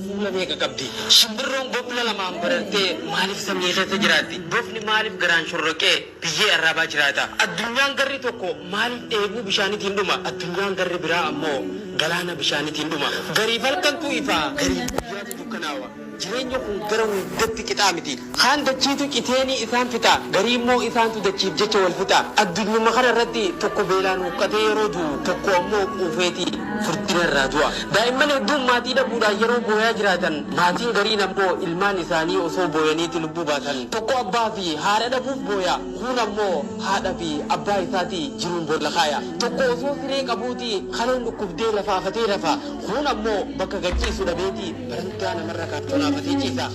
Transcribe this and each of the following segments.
Humna meeqa qabdi? Shimbirroon bofla lamaan barartee maaliif samii keessa jiraatti? Bofni maaliif garaan shorroqee biyyee arraabaa jiraata? Addunyaan garri tokko maaliif dheebuu bishaanitiin dhuma? Addunyaan garri biraa ammoo galaana bishaanitiin dhuma. Gariif halkantu ifa, gariif guyyaatu dukkanaawa. Jireenyi kun gara hundatti qixaa miti. Kaan dachiitu citeenii isaan fixa, gariimmoo isaantu dachiif jecha wal fixa. Addunyuma kana irratti tokko beelaan huqqatee yeroo du'u, tokko ammoo quufeeti furdina irraa du'a. Daa'imman hedduun maatii dhabuudhaan yeroo booyaa jiraatan, maatiin gariin ammoo ilmaan isaanii osoo booyaniiti lubbuu baasan. Tokko abbaa fi haadha dhabuuf booya, kuun ammoo haadha fi abbaa isaati jiruun boolla kaaya. Tokko osoo siree qabuuti kaleen dhukkubdee lafaafatee rafa, kuun ammoo bakka gad ciisu dhabeeti barandaa namarra kaattonaafatee ciisa.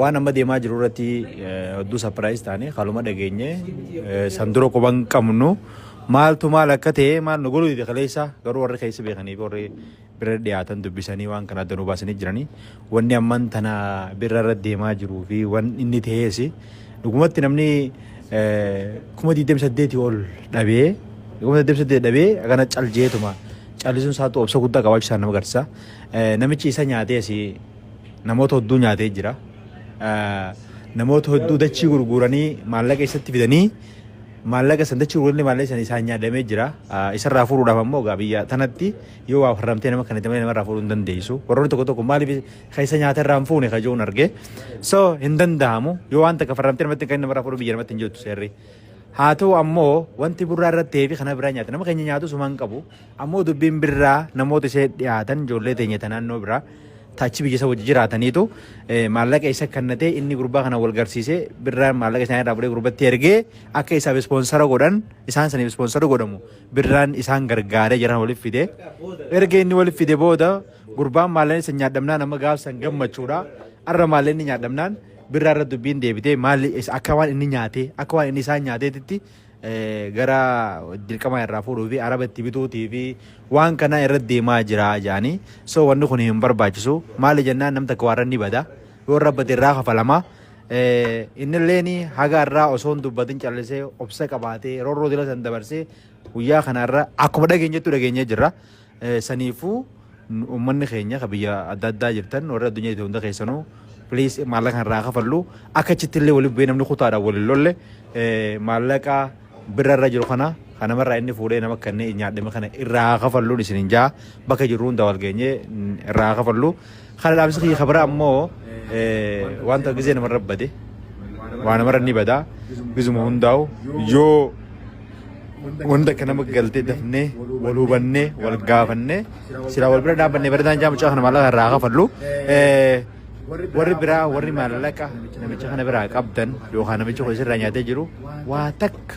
Waan amma deemaa jiru irratti hedduu sapiraayiz taane haaluma dhageenye san dura quba hin qabnu maaltu maal akka ta'e maal nu godhu dide kaleessa garuu warri keessa beekanii fi warri bira dhiyaatan dubbisanii waan kana adda nu baasanii jiranii wanni amman tana birra irra deemaa jiruu fi waan inni ta'ees dhugumatti namni kuma 28 ol dhabee kuma 28 dhabee akkana caljeetuma callisuun isaatu obsa guddaa qabaachuu isaa nama agarsiisa namichi isa nyaatees namoota hedduu nyaatee jira. Namoota hedduu dachii gurguranii maallaqa isatti fidanii maallaqa san dachii gurguranii maallaqa san isaan nyaadhamee jira. Isarraa furuudhaaf ammoo egaa biyya tanatti yoo waa farramtee nama kanatti malee namarraa furuu hin dandeessu. Warroonni tokko tokko maaliif keessa nyaata irraa hin fuune kajoon arge. So hin danda'amu yoo waan takka farramtee namatti kan namarraa furuu biyya namatti hin jirtu seerri. Haa ta'u ammoo wanti burraa irratti ta'ee fi kana biraa nyaata nama keenya nyaatu sumaan qabu. Ammoo dubbiin birraa namoota ishee dhiyaatan ijoollee teenya ta naannoo biraa taachi biyya isa wajji jiraataniitu maallaqa isa kannatee inni gurbaa kana wal garsiisee birraan maallaqa isaanii irraa fudhee gurbatti ergee akka isaaf ispoonsara godhan isaan saniif ispoonsara godhamu birraan isaan gargaaree jiran waliif fide erga inni waliif fide booda gurbaan maallaqa isa nyaadhamnaan amma gaafsan gammachuudha arra maallaqa inni nyaadhamnaan birraa irra dubbiin deebitee maalli akka waan inni nyaatee akka waan inni isaan nyaateetitti gara dirqamaa irraa fuudhuu fi araba itti bituutii fi waan kanaa irra deemaa jira jedhanii so wanni kun hin barbaachisu maali jennaan nam takka waarra ni bada yoo irra bade irraa kafalama innilleen haga irraa osoo hin dubbatin callisee obsa qabaatee rorroo dila san dabarsee guyyaa kana irra akkuma dhageenyettu dhageenyee jirra. Saniifuu ummanni keenya ka biyya adda addaa jirtan warri addunyaa jirtan hunda keessanuu please maallaqa irraa kafallu akka achitti illee waliif bu'ee namni kutaadhaan waliin lolle maallaqa birra irra jiru kana kan namarraa inni fuudhee nama kanneen nyaadhame kana irraa kafalluun isin hin jaa bakka jirru hunda wal geenyee irraa kafallu. Kana dhaamsi kiyya kabara ammoo wanta gizee namarra bade waa namarra ni bada gizuma hundaa'u yoo wanta akka nama galtee dafnee wal hubannee wal gaafannee silaa wal bira dhaabannee bareedaan jaa mucaa kana maallaqa irraa kafallu warri biraa warri maallaqa namicha kana biraa qabdan yookaan namicha kun isirraa nyaatee jiru waa takka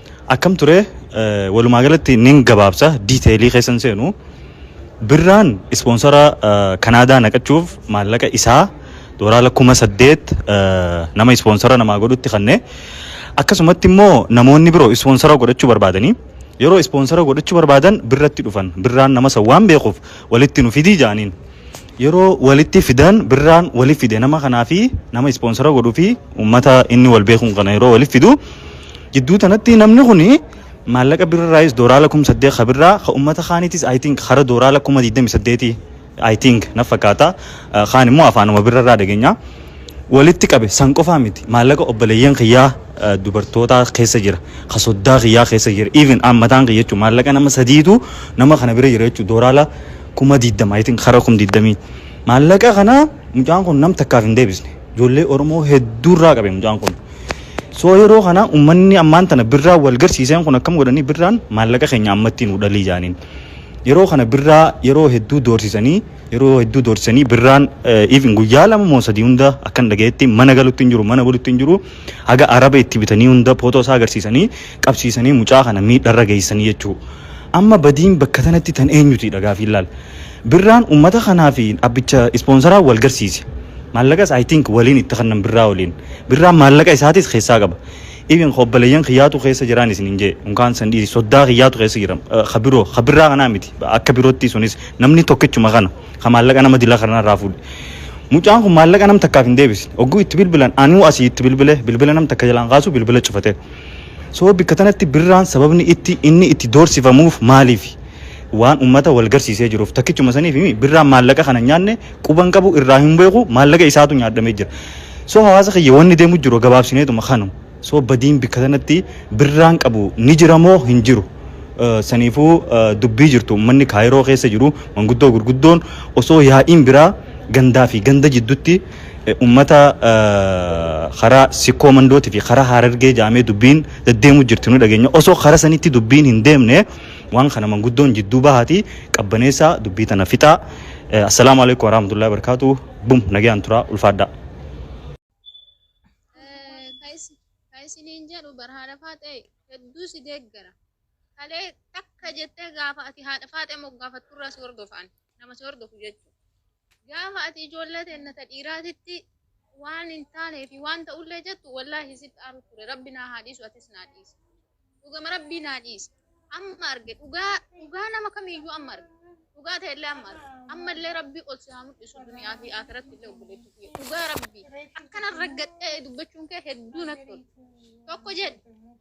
Akkam ture walumaa galatti nin gabaabsa diiteelii keessa hin seenu. Birraan ispoonsara Kanaadaa naqachuuf maallaqa isaa doolaara kuma saddeet nama ispoonsara namaa godhutti kanne. Akkasumatti immoo namoonni biroo ispoonsara godhachuu barbaadanii yeroo ispoonsara godhachuu barbaadan birratti dhufan birraan nama san waan beekuuf walitti nu fidii jaaniin. Yeroo walitti fidan birraan wali fide nama kanaa fi nama ispoonsara godhu fi uummata inni wal beekuun kana yeroo wali fidu jidduu tanatti namni kun maallaqa birraayis dooraala kum saddeet ka birraa ka uummata kaaniitis I think hara dooraala kuma digdami saddeeti I think na fakkaata kaan immoo afaanuma birrarraa dhageenya walitti qabe san qofaa miti maallaqa obboleeyyan kiyyaa dubartootaa keessa jira ka soddaa kiyyaa keessa jira even aan mataan kiyya jechuun maallaqa nama sadiitu nama kana bira jira jechuun dooraala kuma digdama itin kara kum digdamii maallaqa kana mucaan kun nam takkaaf hin deebisne ijoollee oromoo hedduu irraa qabe mucaan kun soo yeroo kana ummanni ammaan tana birraa wal garsiiseen kun akkam godhanii birraan maallaqa keenya ammatti nu dhalii jaaniin yeroo kana birraa yeroo hedduu doorsisanii yeroo hedduu doorsisanii birraan even guyyaa lama moo sadii hunda akkan dhagayetti mana galutti hin jiru mana bulutti hin jiru haga araba itti bitanii hunda footoo isaa agarsiisanii qabsiisanii mucaa kana miidharra geessanii jechuudha. Amma badiin bakka tanatti tan eenyutiidha gaafiin laal. Birraan ummata kanaa fi abbicha ispoonsaraa wal garsiise. Maallaqas I think waliin itti kannan birraa waliin. Birraan maallaqa isaatis keessaa qaba. Even obboleeyyan kiyyaatu keessa jiraan isinin jee. Unkaan san dhiisi soddaa kiyyaatu keessa jira. Ka biroo ka birraa kanaa miti. Akka birootti sunis namni tokkichuma kana ka maallaqa nama dila kanarraa fuudhe. Mucaan kun maallaqa nam takkaaf hin deebisne. Ogguu itti bilbilan anuu asii itti bilbile bilbila nam takka jalaan kaasu bilbila cufate. So bikka tanatti birraan sababni itti inni itti doorsifamuuf maaliifi? Waan ummata wal garsiisee jiruuf. Takkichuma saniif mii birraan maallaqa kana hin nyaanne quba hin qabu irraa hin beeku maallaqa isaatu nyaadhamee jira. So hawaasa kiyya wanni deemu jiru gabaabsineetuma kanu. So badiin bikka tanatti birraan qabu ni jira moo hin jiru? Saniifuu dubbii jirtu ummanni Kaayiroo keessa jiru manguddoo gurguddoon osoo yaa'iin biraa gandaa fi ganda jiddutti Ummata karaa Sikkoo Mandooti fi karaa Harargee jaamee dubbiin deddeemu jirti nu dhageenya. Osoo karaa sanitti dubbiin hin deemne waan kana manguddoon jidduu bahaati qabbaneessaa dubbii tana fixaa. Assalaamu alaikum warahmatullahi wabarakatuh. Bum nagayaan turaa ulfaadhaa. Ka isiniin jedhu bar haadha faaxee hedduu si deeggara. Kalee takka jettee gaafa ati haadha faaxee moggaafatturraa si hordofaan. nama si hordofu jechuudha. Gaafa ati ijoollee teenna ta dhiiraatitti waan hin taanee fi waan ta'ullee jettu wallaahi sitti aaru ture rabbi naa haa dhiisu atis naa dhiisi. Dhugama rabbii naa dhiisi. Amma arge dhugaa dhugaa nama kamiyyuu amma arge. Dhugaa ta'ellee amma arge. Ammallee rabbi ol si haa mul'isu duniyaa fi akiratti illee obboleettii kiyya. Dhugaa rabbi akkana raggaxxee dubbachuun kee hedduu natti tola. Tokko jedhe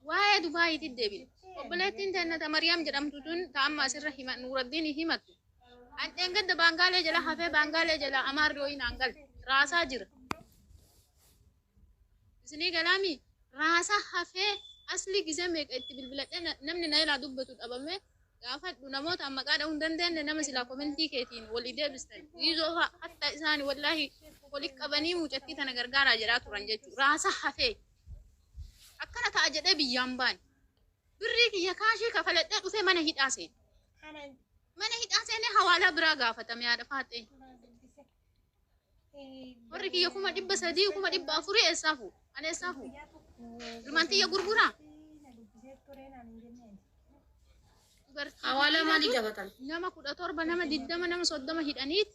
waa'ee Dubaayiitti deebine. Obboleettiin teenna ta Mariyaam jedhamtu tun ta amma asirra hima Nuuraddiin himattu. An dheengadda baangaalee jala hafee baangaalee jala amaarri wayii naan galte raasaa jira. Isinii galaami raasaa hafee asli gizee meeqa itti bilbiladhe na- namni na ilaa dubbatu dhabame gaafadhu namoota an maqaa dhahuu hin dandeenye nama silaa komentii keetiin walii deebistan giizoo fa'a hatta isaani wallaahi wali qabanii mucattii tana gargaaraa jedhaa turan jechuudha raasaa hafee akkana ta'a jedhee biyyaan baane. Birrii kiyya kaashii kafaladhee dhufee mana hidhaa seene. Mana hidhaa seenee hawaalaa biraa gaafatame haadha faaxee. Warri kiyya kuma dhibba sadii kuma dhibba afurii eessaa fuudhu? Ani eessaa fuudhu? Ilmaan tiyya gurguraa? Dubartii Hawaalaa maalii gaafatan? nama kudha torba nama digdama nama soddoma hidhaniiti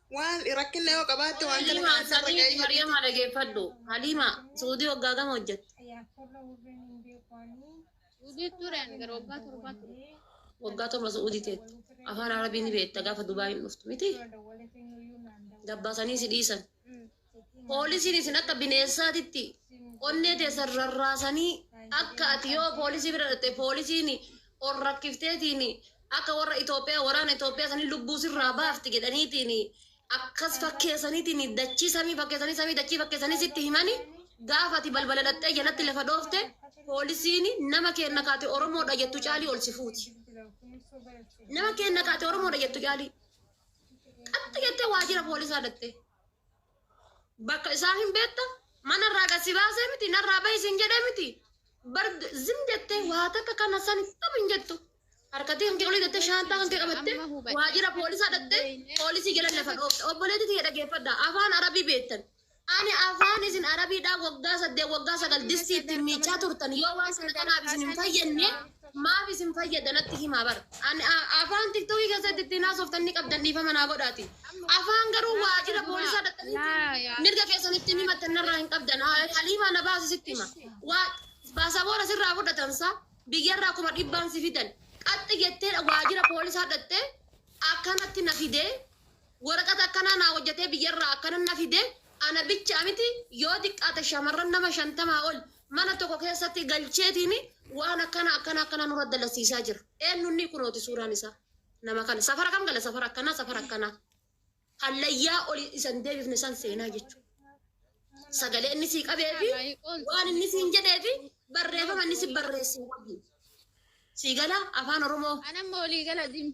Waal i rakkinna yoo qabaatte waan kana Haliimaa kanaan narra sanii ga'ee fi jedhiiti. Mariyamaa dhageeffadhu. Haliimaa Suudii waggaa gama hojjette. Suudii ture ani gara waggaa torbaa ture. Waggaa torba Suudii teette. Afaan Arabii ni beekta gaafa Dubaayiin dhuftu miti. Dabbaasanii si dhiisan. Poolisiin isin akka bineensaatitti onnee teessan rarraasanii akka ati yoo poolisii bira dhatte poolisiin ol rakkifteetiin akka warra Itoophiyaa waraana Itoophiyaa sanii lubbuu sirraa baafti jedhaniitiin akkas fakkeessaniitiin dachii samii fakkeessanii samii dachii fakkeessanii sitti himanii gaafa ati balbala dhattee jalatti lafa dhoofte poolisiin nama keenna kaate Oromoodha jettu caalii ol si fuuti. Nama keenna kaate Oromoodha jettu caalii. Qaxxi jettee waajjira poolisaa dhattee. bakka isaa hin beekta mana irraa gad si baasee miti narraa bahi siin jedhee miti bar zim jettee waa takka kana san kam hin jettu harkatee kan kee olii jettee shaantaa kan kee qabattee waajjira poolisaa dhattee poolisii jala lafa dhoofte obboleetti tiyya dhageeffadha afaan arabii beektan ani afaan isin arabiidhaa waggaa saddeet waggaa sagal distii ittiin miicaa turtan yoo waan sana kanaaf isin hin fayyadne Maaf isin fayyada natti himaa bar. An a- afaan tiktookii keessatti ittiin haasoftan ni qabdan dhiifama naa godhaati. Afaan garuu waajjira poolisaa dhaqanii mirga keessan ittiin himattan narraa hin qabdan. Ha- Haliimaa na baasi sitti hima. Waa baasaboora sirraa fudhatan sa biyyarraa kuma dhibbaan si fidan. Qaxxi jettee waajjira poolisaa dhaqxee akkanatti na fidee Woraqata akkanaa naa hojjatee biyyarraa akkana na fide ana bicha miti yoo xiqqaate shamarran nama shantamaa ol mana tokko keessatti galcheetiin waan akkana akkana akkana nurra dalasiisaa jira. Eennunnii kunooti suuraan isaa. Nama kana safara kam gala safara akkanaa safara akkanaa. Hallayyaa oli isan deebifne san seenaa jechuudha. Sagalee inni sii qabee fi waan inni siin jedhee fi barreeffama inni si barreessin wajjin. Sii gala afaan Oromoo. Anamma olii gala dim.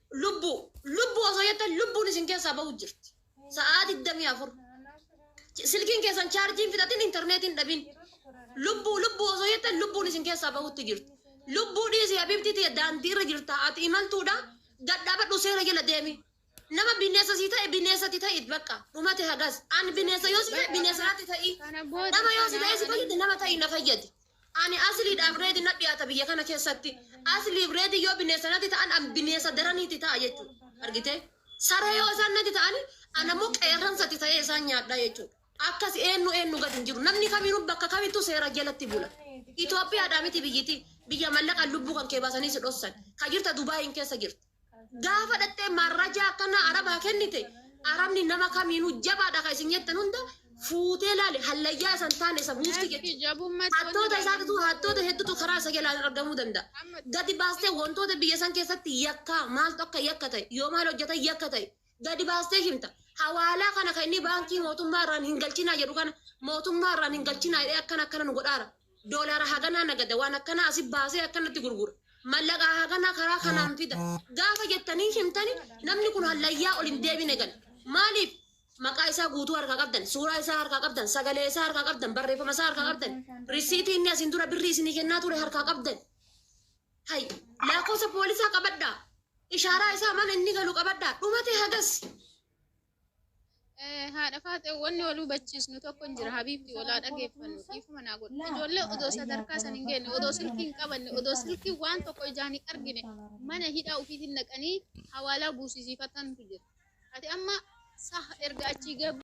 Lubbuu. Lubbuu osoo jettan lubbuun isin keessaa bahu jirti. Sa'aa 24. Ch- Silkiin keessan chaarjiin fixatin intarneetiin dhabin. Lubbuu lubbuu osoo jettan lubbuun isin keessaa bahutti jirti. Lubbuu dhiisi habibtii tiyya daandii irra jirta ati imaltuudha gad dhaabadhu seera jala deemi. Nama bineensa sii ta'e bineensa ti ta'it bakka dhumate hagas. An bineensa yoo si ta'e bineensa natti ta'i. Kana booda Nama yoo si ta'e si kanaa fayyadi nama ta'i na fayyadi. Ani asliidhaaf reedi na dhiyaata biyya kana keessatti. Asliif reedi yoo bineessa natti ta'an an bineessa daranii itti ta'a jechuudha. Argitee? Saree yoo isaan natti ta'an an ammoo qeerransa itti ta'ee isaan nyaadhaa jechuudha. Akkas eenyu eenyu gad hin jiru. Namni kamiinuu bakka kamittuu seera jalatti bula. Itoophiyaadhaa miti biyyiti biyya mallaqaan lubbuu kan kee baasanii si dhossan. Ka jirta Dubaayiin keessa jirta. Gaafa dhattee marrajaa akkanaa arabaa kennite arabni nama kamiinuu jabaadha kan isin jettan hunda fuutee laale hallayyaa isan taane isa buufti jechuudha. Hattoota isaatitu hattoota hedduutu karaa isa jalaan argamuu danda'a. Gadi baastee wantoota biyya san keessatti yakkaa maaltu akka yakka ta'e yoo maal hojjetan yakka ta'e gadi baastee himta. Hawaalaa kana kan inni baankii mootummaa irraan hin galchinaa jedhu kana mootummaa irraan hin galchinaa jedhee akkana akkana nu godhaara. Doolaara haganaa nagada waan akkanaa asi baasee akkanatti gurgura. Mallaqaa haganaa karaa kanaan fida. Gaafa jettanii himtani namni kun hallayyaa ol hin deebine gala. Maaliif? Maqaa isaa guutuu harkaa qabdan, suuraa isaa harkaa qabdan, sagalee isaa harkaa qabdan, barreeffama isaa harkaa qabdan, risiitii inni asiin dura birrii isinii kennaa ture harkaa qabdan. Hay, laakoosa poolisaa qabadhaa. Ishaaraa isaa mana inni galu qabadhaa. Dhumate hagas. Eh, haadha faaxee wanni wal hubachiisnu tokko hin jira habiibti walaa dhageeffannu dhiifama naa godha ijoollee odoo sadarkaa san hin geenye odoo silkii hin qabanne odoo silkii waan tokko ijaan hin argine mana hidhaa ofiitiin naqanii hawaalaa buusisiifatantu jira ati amma sah erga achii gabbu